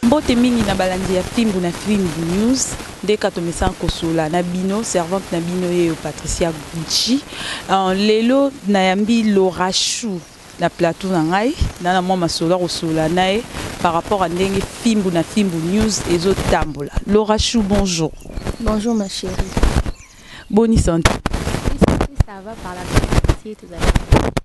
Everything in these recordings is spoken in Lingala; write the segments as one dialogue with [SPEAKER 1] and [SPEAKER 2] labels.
[SPEAKER 1] Mbote mingi na
[SPEAKER 2] balandi ya Fimbu na Fimbu News, ndeka tomesana kosolola na bino, servante na bino yeyo Patricia Gucci. Uh, lelo nayambi Laura Chou na plateau na ngai, na na mwa masolo akosolola na ye par rapport à ndenge Fimbu na Fimbu News ezo tambola. Laura Chou, bonjour. Bonjour ma
[SPEAKER 3] chérie. Boni
[SPEAKER 2] santé? Oui, santé ça
[SPEAKER 3] va par la grâce de Dieu, tozali.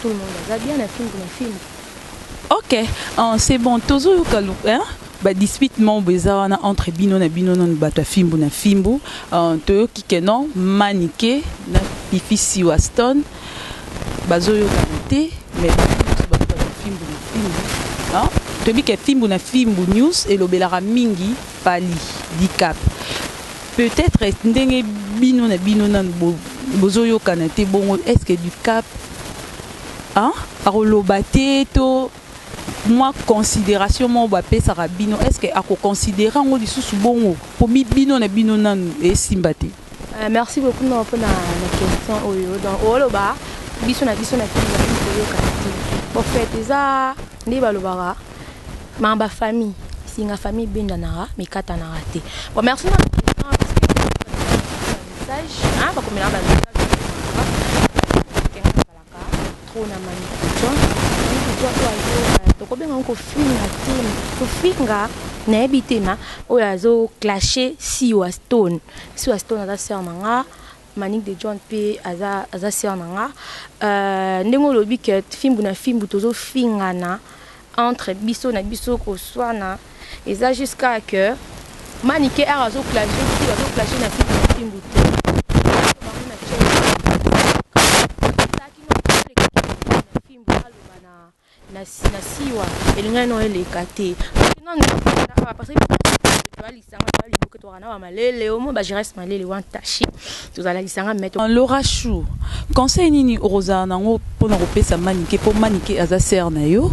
[SPEAKER 3] Tout le monde aza bien na fimbu na fimbu. Ok,
[SPEAKER 2] uh, c'est bon, tozo yoka hein? ba dispute mambo eza wana entre bino na bino nanu bato ya fimbu na fimbu uh, toyoki ke non manike na pifi siwa stone bazoyokana te mais bato ya fimbu na fimbu toyebi ke fimbu na fimbu news elobelaka mingi pali dicap Peut etre ndenge bino na bino nanu bo bozo yokana te bongo est ce que du cap hein akoloba te to mwa consideration moko bapesaka bino est ce que akoconsidere yango lisusu bongo mpo bino na bino nanu esimba te euh, merci
[SPEAKER 3] beaucoup non mpona na question oyo donc oloba biso na biso na kini bazali koyokana te en fait eza nde balobaka Ma ba famille singa famille bendanaka mikatanaka te bon merci na message hein bakomelaka ba message trop na mami kujon mami kujon oyo azo tokobenga ngo kofinga te kofinga nayebi te ma oyo azo clashe siwa stone siwa stone aza sœur na nga Manick de John pe aza aza sœur na nga euh, ndenge olobi que fimbu na fimbu tozo fingana entre biso na biso koswana eza jusqu'à que manike ar azo clage ti azo clage na fimbu na fimbu te Na siwa elingaki nao eleka te kasi nanu eza awa parce que toza lisanga toza liboke tozalaka na bamalele omoi bagerance malele
[SPEAKER 2] wan tache tozala lisanga me euh, laura chou conseil nini okozala nango mpo na kopesa manike mpo manike aza sere na yo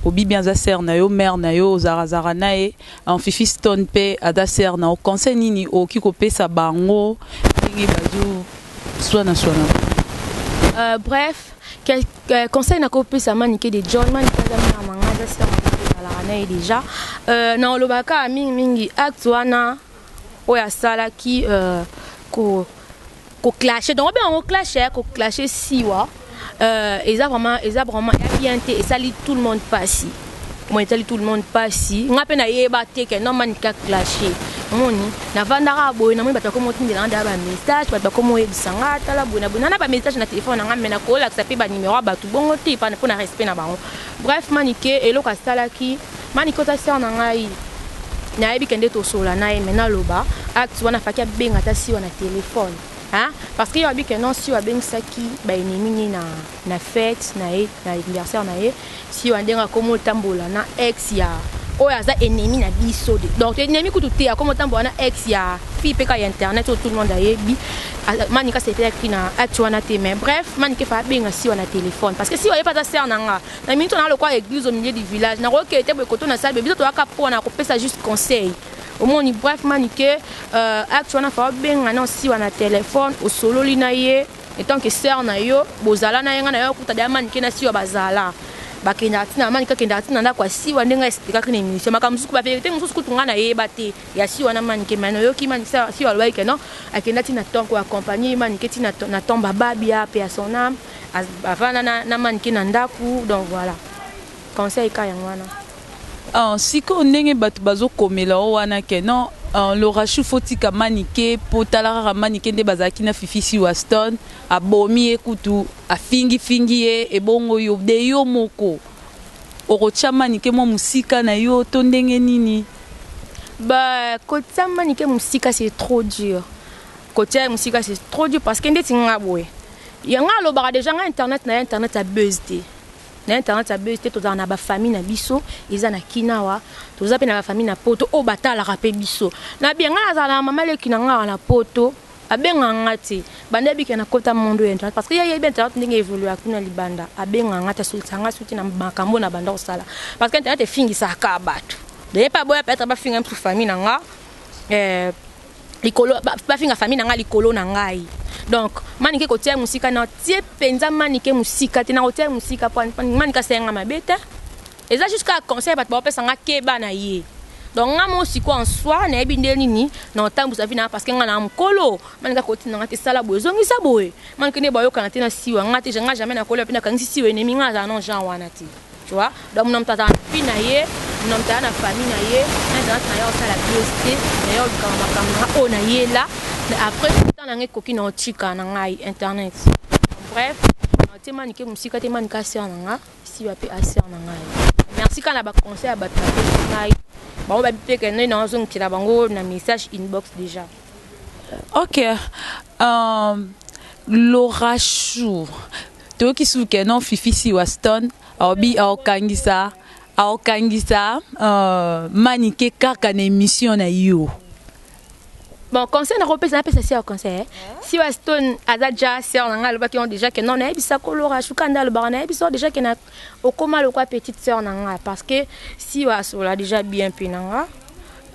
[SPEAKER 2] obibi aza sere na yo mare na yo ozarazara na ye enfifi stone mpe aza sere na yo conseil nini okoki kopesa bango ndenge bazoswanaswana euh,
[SPEAKER 3] bref Euh, conseil na kopesa manike de john manike aza mwana manga aza sila makoalaka na ye deja euh, na olobaka kaka mingimingi acte wana oyo asalaki euh, koclashe donc obenga yango clashe eh, koclashe siwa eza vraiment eza vraiment ya bien te esali tout le monde pasi bon etali tout le monde pasi nga pe na yeba te que non man ka clasher moni navandaka boye namoni bato bakomi otindela nga deya bamessage bato bakomi oyebisa nga tala boye na boye nana bamessage na telefone na nga me nakolakisa mpe banimero ya bato bongo te mpo na respect na bango bref manike eloko asalaki manike oza ser na ngai nayebi kende tosola na ye me naloba acte wana afaki abenga ata siwa na telefone parce que yo abike non siwa abengisaki baennemi nini na na fete naye na anniversaire naye si wana ndenge akomo tambola na ex ya oyo aza ennemi na biso de donc ennemi kutu te akomo tambola na ex ya fille pe ka ya internet oyo tout le monde ayebi manika sepela ki na acte wana te mais bref manika efa abenga siwa na telefone parce que siwa ye pe aza sere na nga na minute wana lokola eglise au milieu du village nakokee te boye koto na salbe biso toyaka po wana kopesa juste conseil omoni bref manike euh, acte wana fa abenga na siwa na telefone osololi na ye Etant que soeur na yo bozala na ye nga na yo kuta da manike na siwa bazala bakendaka ntina na manike akendaka ntina na ndako ya siwa ndenge aexplikaki na emission makambo mosusu baverite mosusu kutu ngai nayeba te ya siwa na manike mai nayoki siwa alobaki ke non akenda ntina ton ko accompagne manike ntina na ton bababia mpe ya son ame avanda na manike na ndako donc voilà conseil ka yango wana Ah
[SPEAKER 2] sikoyo ndenge batu bazo komela yo wana que non ah, Laura Chou faut tika Manike po tala kaka Manike nde bazalaki na Fifi si Waston abomi ye kutu afingi fingi ye ebongo yo de yo moko okotia Manike mwa musika na yo to ndenge nini? Ba
[SPEAKER 3] kotia Manike musika c'est trop dur. Kotia ye musika c'est trop dur parce que ndeti nga boye. Ya nga alobaka deja nga internet na ye internet ya buzz te. na internet ya buzz te tozala na ba famille na biso eza na kina wa toza pe na ba famille na poto oyo batalaka pe biso na bien nga nazala na mama leki na nga na poto abenga nga te banda bika na kota mondo ya internet parce que ya yebi internet ndenge evolue kuna libanda abenga nga te asolisa nga suki na makambo na banda kosala parce que internet efingisaka bato doye pa boya peut-être bafinga mpe famille na nga eh, likolo bafinga famille na ngai likolo na ngai donc manike kotia ye mosika na tie mpenza manike mosika te nakotia ye mosika po manike asala ngai mabe te eza juste kaka conseil bato baopesa ngai keba na ye donc ngai mo sikoyo en soi nayebi nde nini na otambwisa vi na ngai parceke ngai na mokolo manike akotinda ngai te sala boye ezongisa boye manike nde bayokana te na siwa ngai te ngai jamai nakolia mpe nakangisi siwa enemi ngai azala na genre wana te Tu vois? Donc mon tata na fille na ye, mon tata na famille na ye, na tata na yo sala biosté, na yo kama makambo na o na ye là. Après tant na ngai koki na otika na ngai internet. Bref, na tema nike musika tema nika sœur na nga, si ba pe a sœur na ngai. Merci kana ba conseil ba tata na ngai. Ba ba pe ke na na zo nkila bango na message inbox déjà. OK.
[SPEAKER 2] Um, Laura Chou. Toyoki sous que non Fifi Siwa Stone aobi aokangisa aokangisa euh, Manike kaka na emission na yo.
[SPEAKER 3] Bon, conseil na kopesa na pesa siwa conseil. Eh? Siwa Stone aza déjà sœur na ngai alobaki on déjà que non na yebisa ko Laura Shuka nda alobaka na yebisa déjà que na okoma lokwa petite sœur na ngai parce que siwa asola déjà bien pe na ngai.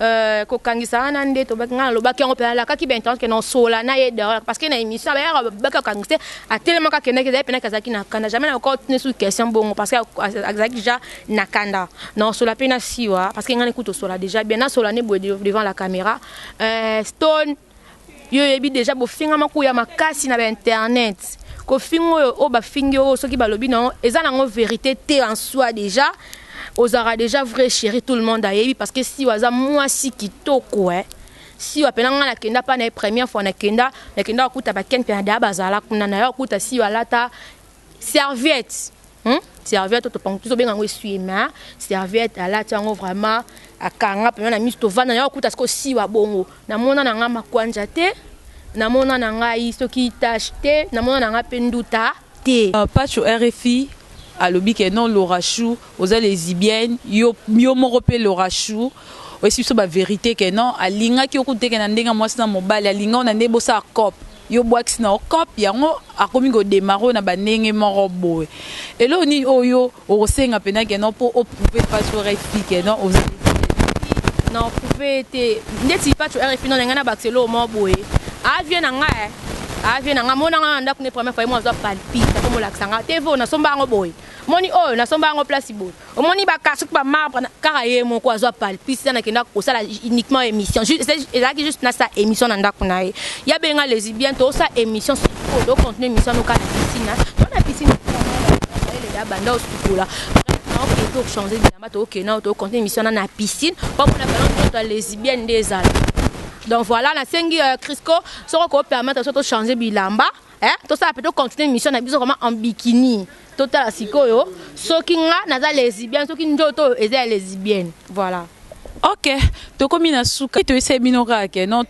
[SPEAKER 3] Euh, kokangisa wana nde tobaki ngai nalobaki yango mpe nalakaki bainternet ke naosola na ye dehors parce que na émission abayaka babaki kokangisa te atelemaka akendaki ezali mpenaki azalaki na kanda jamais nakotuni soki question bongo parce que azalaki déjà na kanda naosola mpe na siwa parce que ngai nekuti osola déjà bien nasola nde boye devant la caméra euh, stone Yo oyebi dejà bofingama kuya makasi na ba internet. Kofinga oyo oyo bafingi yo oyo soki balobi na yo eza na yango verite te en soi dejà ozalaka dejà vraie cherie tout le monde ayebi parce que Siwa aza muasi kitoko eh. Siwa pena nga na kenda pa na ye première fois na kenda na kenda kokuta ba Ken Mpiana dejà bazala kuna na ya kokuta Siwa alata serviette hmm? serviette oyo topango tozobenga yango esui ma serviette alati yango vraiment akanga mpema na miso tovanda yango akuta siko siwa bongo namona na ngai makwanja te namona na ngai soki tache te namona na ngai mpe nduta te uh, pacho rfi
[SPEAKER 2] alobi ke non lorachou oza lesibienne yo, yo moko mpe lorachou oyesi biso baverité ke non alingaki okuteke na ndenge ya mwasi na mobali alingao na nde bosala cope Yo buakisi na yo coop yango akomi ko demarrer yo na ba ndenge moko boye. Eloko nini oyo yo oko senga pena que non po o prouver Patsho RFI que non oza neti ye te? Na
[SPEAKER 3] prouver ye te neti Patsho RFI non ngai na bakisa eloko moko boye aza vieux na ngai eh aza vieux na ngai amona ngai na ndaku ne première fois ye moko azo palpite akomi olakisa ngai TV oyo na somba yango boye omoni oyo na somba yango place boye. Omoni ba kasuku ba marbre na kaka ye moko azwa palpis na nakenda kosala uniquement émission ezalaki juste na sa émission na ndako na ye ya benga les bien to sa émission sikoyo do contenu émission no kala piscine to na piscine ya banda osukola ok to changer bilamba to ok na to contenu émission na na piscine po mona ballon to les bien nde ezala donc voilà na sengi euh, Crisco soko ko permettre so to changer bilamba eh, tosala pe tocontinue mission na biso koma en bikini totala sikoyo soki nga naza lesibienne soki nzoto oyo eza ya lesibienne voilà ok
[SPEAKER 2] tokomi na suka toyesai bino kaka ke non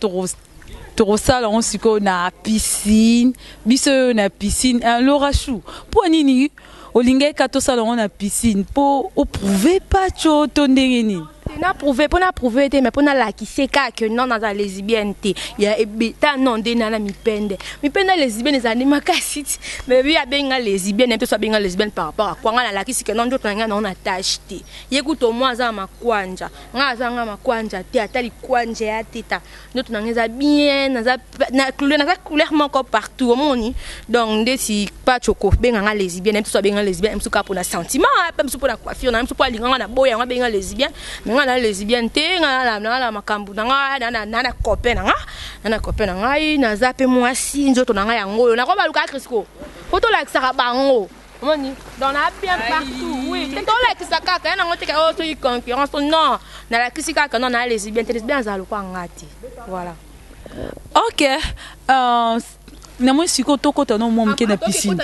[SPEAKER 2] tokosala yango sikoyo na piscine biso oyo na piscine eh, lorachou mpo nini Olingaki ka tosala yango na piscine po o prouver Patsho to ndenge nini? te na
[SPEAKER 3] prouve mpo na prouve te mais mpo nalakise kaka ke non naza lesibienne te ya ebeta non nde nana mipende mipende lesibienne ezali makasi ti mais ye abengi nga lesibienne mpe so abengi nga lesibienne par rapport akwa nga nalakisi ke non nzoto na ngai nango na tache te ye kutu omwa aza na makwanja nga aza nga makwanja te ata likwanja ya teta ndoto na ngai eza bien naza na couleur naza couleur moko partout omoni donc ndeti pacho kobenga ngai lesbienne mpe so abenga lesbienne mpe kaka mpo na sentiment mpe mpe mpo na coiffure na mpe mpo alinga ngai na boye yango abenga lesbienne me ngai na lesbienne te ngai na makambo na ngai na na copain na ngai na na copain na ngai naza mpe mwasi nzoto na ngai yango oyo nakobaluka kristo mpo tolakisaka bango omoni donc na bien partout oui te tolakisa kaka ya nango teka oyo oh, soki concurrence oh, non nalakisi kaka non naa lesibien te lesibien azala lokola nga te voilà ok
[SPEAKER 2] euh, namoni sikoyo tokota no mwa moke na piscine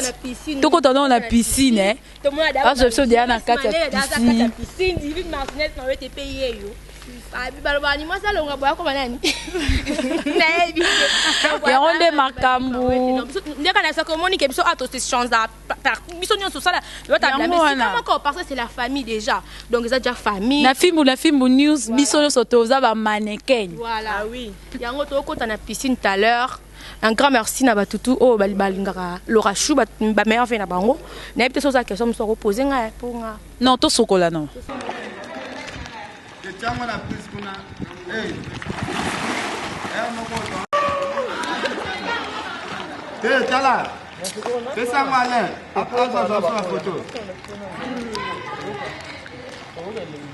[SPEAKER 2] tokota no na piscine eh. azo biso deya na kati ya piscine
[SPEAKER 3] Abi baloba ni mwasi alonga boya koma nani? Nayebi.
[SPEAKER 2] Yango nde makambo. Ndeka na sako
[SPEAKER 3] moni ke biso ato se change par biso nyonso sala yo ta blame si kama ko parce que c'est la famille déjà. Donc eza déjà famille. Na fimbu na fimbu
[SPEAKER 2] news biso nyonso toza ba mannequin. Voilà. Ah oui.
[SPEAKER 3] Yango to kota na piscine tout à l'heure. Un grand merci na batu tout oyo bali balingaka Laura Chou ba, ba meilleurs vœux na bango. Na yebite soza question musu ko poser nga eh, po nga. Non to sokola non.
[SPEAKER 2] Etiango na prise kuna.
[SPEAKER 4] Hey. Eh moko. Hey, tala. Pesa ngo Alain. Après, je vais faire la photo.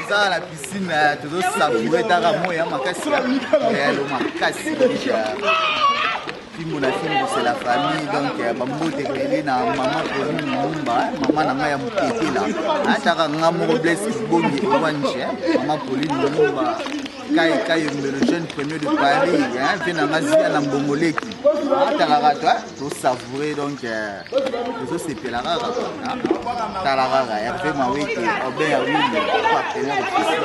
[SPEAKER 5] eza na piscine eh, tozosaboure taka moi ya makasi ya eh, makasi fimbu na fimbu c'est la famille donc euh, bambote ebele na mama koni lumumba mama na ngai ya motetela ataka nga moko blaise kibongi ewanje mama poli lumumba kai kai mbelo jeune premier de paris mpe na nga zia na mbongoleki atalaka to tosavoure donc tozosepela kaka tala kaka herve mawete obin ya wili partenaire officiel